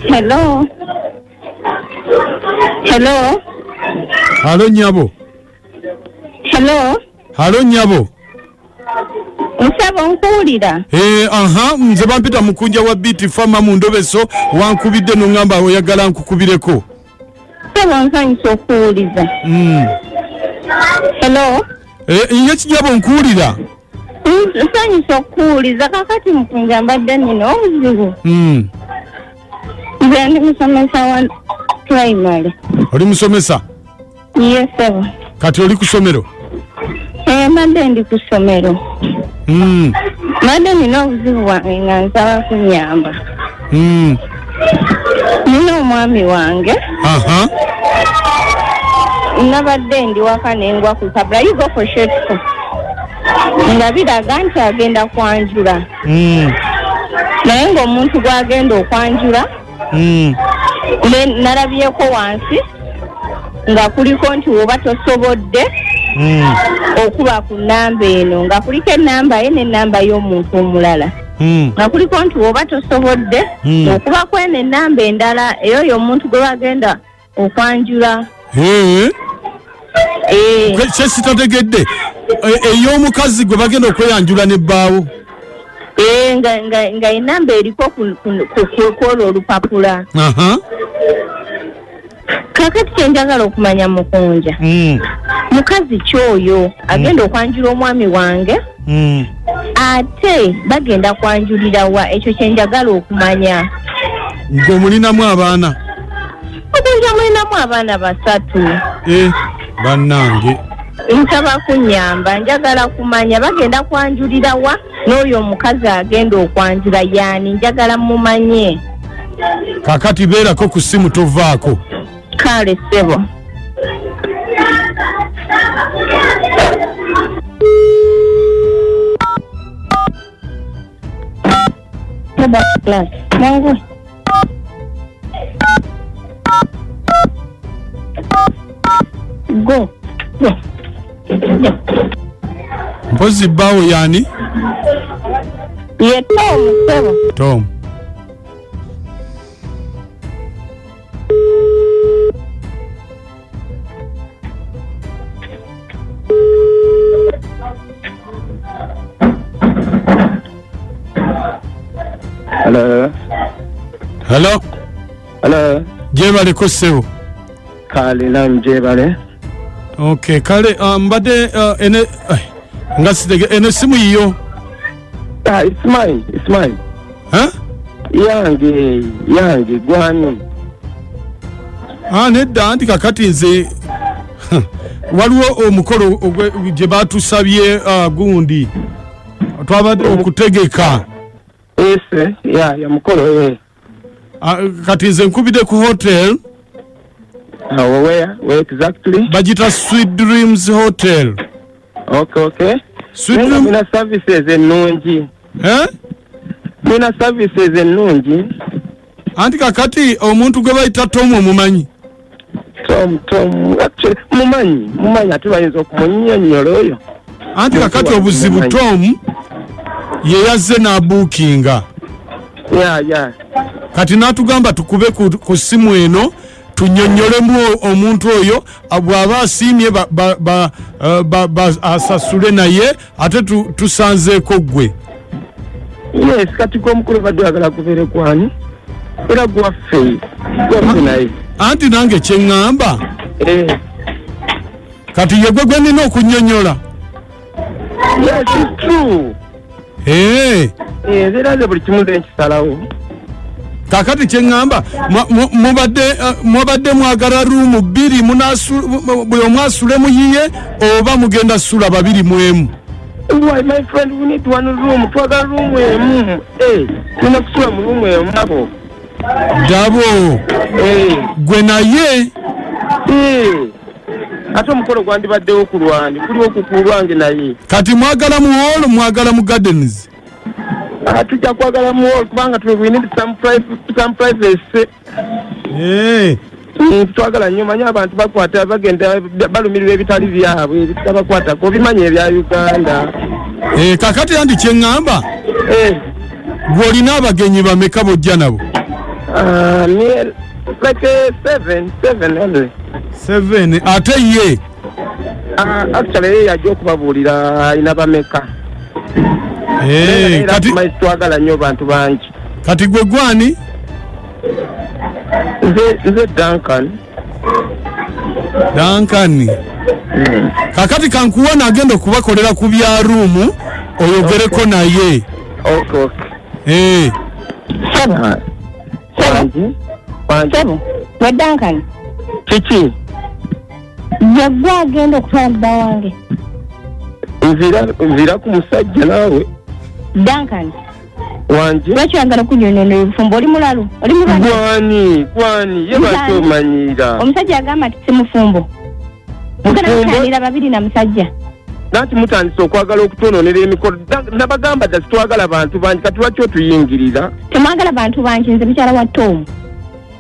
Hello. Hello. halo nyabo Hello. halo nyabo Musaba onkuwulira. Eh, aha nze bampita mukunja wa biti fama mu ndobeso wankubidde noŋŋamba oyagala nkukubireko sebo nsanyusa okuwuliza Mm. hello Eh, Inye kijabo nkuwulira. Ns- nsanyusa okuwuliza kakati mukunja mbadde nina obuzibu Mm. nze ndi musomesa wa primary Oli musomesa. Yes, sebo. kati oli ku somero Eh, mbadde ndi ku ssomero. Mm, Mbadde nina obuzibu bwange nga nsaba kunyamba. mm, Nina omwami wange. aha Nabadde ndi waka ne ngwa ku kabula. You go for short school. Nga biraga nti agenda kwanjula. Mm. Naye ng'omuntu gw'agenda okwanjula Mm. ne nalabyeko wansi nga kuliko nti woba tosobodde Mm. okuba ku namba eno nga kuliko enamba ye nenamba y'omuntu omulala Mm. nga kuliko nti woba tosobodde Mm. okuba kweno enamba endala eyoyo omuntu gwe bagenda okwanjula Eh, Eh, kwe- kye sitategedde E- ey'omukazi gwe bagenda okweyanjula ne bbaawo eh, nga- nga- nga enamba eriko ku- ku- ku- ku- kwolwo olupapula Aha. kakati kyenjagala okumanya mukunja Mm, mukazi kyoyo agenda okwanjula omwami wange mm. ate bagenda kwanjulira wa ekyo kyenjagala okumanya ng'omulinamu abaana okunja mulinamu abaana basatu eh, bannange nsaba kunyamba njagala kumanya bagenda kwanjulira wa n'oyo omukazi agenda okwanjula yaani njagala mumanye kakati beerako ku ssimu tovaako kale ssebo Go. Mpozi bawo yani? Ye Tom, Tom. Tom. Hello. Hello. Hello. Jebale ko sebo. Kale nam jebale. Okay, kale uh, mbade uh, ene uh, ngasitege ene simu yiyo. Ah, it's mine, it's mine. Eh? Yange, yange, gwani. Ah, nedda anti kakati nze Huh. waliwo omukolo ogwe- gye batusabye ah, gundi twabadde okutegeka Ese, ya, ya mukolo, eh. Ah, kati nze nkubidde ku hotel Awo where? Where exactly? bagita sweet dreams hotel Okay, okay. sweet Naye nga dream Mulina services ennungi. eh? Mulina services ennungi. anti kakati omuntu gwe bayita tomu omumanyi tom tom actually mumanyi mumanyi ate bayinza okumunyonyola oyo anti kakati obuzibu tom yeyazze n'abuukinga ya ya kati n'atugamba tukube ku, ku simu eno tunyonyolemu o- omuntu oyo a- bw'aba asiimye ba- ba- ba- eh, ba- ba- asasule naye ate tusanzeeko gwe yes kati komukulu badde agala kubere kwani era gwaffe gwaffe naye anti nange kyeŋŋamba eh. kati yegwe gwe nina okunyonyola yes it's true eh. eh, era nze buli kimu nze nkisalawo kakati kyeŋŋamba mubadde eh, mwabadde mwagala ruumu bbiri buli omu asule muyiye oba mugenda sula babiri mu emu Why, my friend, we need one room. Twagala room emu. Eh, tulina kusula mu room emu nabo. Dabo. Eh. Gwe naye. Eh. Ate omukolo gwandibaddewo ku lwange. Kuliwo ku kulwange naye. Kati mwagala mu hall, mwagala mu gardens. Ah, tujja kwagala mu hall kubanga tu- we need some priv- some privacy Eh, Mm, twagala nnyo manyi abantu bakwata bagenda balumirirwa ebitali byabwe ebitabakwatako obimanyi ebya uganda eh, kakati andi kyeŋŋamba Eh, gw'olina abagenyi bameka bojja nabo ah, me- like eh, seven seven only seven ate ye Ah, actually yeye yajja okubabuulira alina bameka Eh, kati tumaisi twagala nnyo bantu bangi kati gwe gwani nze nze duncan dankani kakati kankuwa nagenda okubakolera ku bya ruumu oyogereko naye okay okay Eh, Sebo, bangi bangi sebo, we Duncan. kiki yegwe agenda okutwala bba wange nzira ku musajja naawe duncan wanje lwaki oyagala okunyonyono ebufumbo oli mulalu oli mulwani gwani ye lwaki omanyira omusajja agamba nti si mufumbo mugana mutanira babiri na musajja nanti mutandise okwagala okutononera emikolo nabagamba dda sitwagala bantu bangi kati lwaki otuyingirira temwagala bantu bangi nze mukyala wa tomu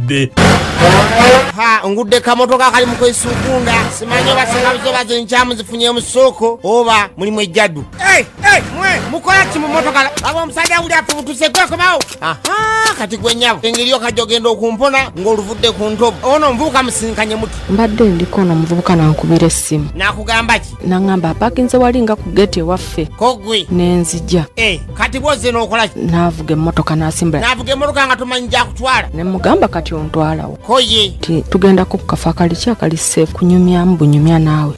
wadde ha ngudde kamotoka akali mu kwesukunda simanyi oba sinabuzo bazo enkyamu zifunye musuuku oba mulimu ejjadu mukola ki mu motoka aba omusajja wuli afubutuse gwekomawo kati gwe nyabo engeri yoka gyogenda okumpona ng'oluvudde ku ntobo ono omuvubuka musinkanye muti mbadde ndiko ono omuvubuka nankubira essimu nakugamba ki naŋamba apakinze wali nga ku geti ewaffe kogwe nenzija eh. kati bwozze n'okolaki naavuga emmotoka n'asimbula naavuga emmotoka nga tomanyi gyakutwala ne mugamba kati ontwalawo koye ti tugendako ku kafa kali ki akali seefu kunyumyamu bunyumya naawe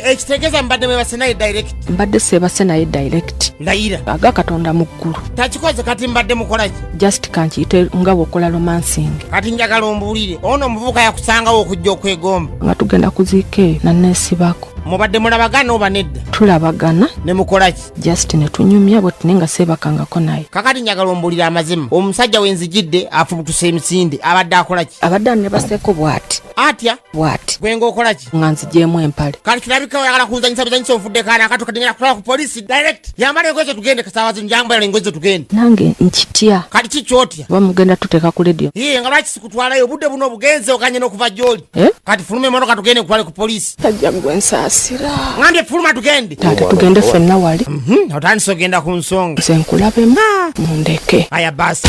ekitegeeza mbadde mwebase naye direct mbadde seebase naye direct layira aga katonda mu ggulu takikoze kati mbadde mukolaki just kankiyite nga bwokola romansing kati njagala ombuulire ono omuvubuka yakusangawo okujja okwegomba nga tugenda kuziika eyo naneesibako mubadde mulabagana oba nedda tulabagana ne mukolaki just netunyumya bwe tune nga seebakangako naye kakati njagala ombulira amazima omusajja wenzijidde afubutuse emisinde abadde akola ki abadde ani nebaseeko bwati atya bwati gwe ngaokola ki nga nzijeemu empale kati kirabika oyagala kunzanyisa bizanyisa ofudde kaana akati okadengera kutwala ku polisi direct yambala engoye zetugende kasaawa zino njambala engoye zetugende nange nkitya kati kikyotya oba mugenda tuteeka ku ledio ye nga lwaki sikutwalayo obudde buno obugenze okanye n'okuva gy'oli eh? kati fuluma emotoka tugende nkutwale ku polisi tajja gwe nsaasira ngambye fuluma tugende taata tugende ffenna wali mhm, otandise ogenda ku nsonga nze nkulabemu ah. mundeke aya basi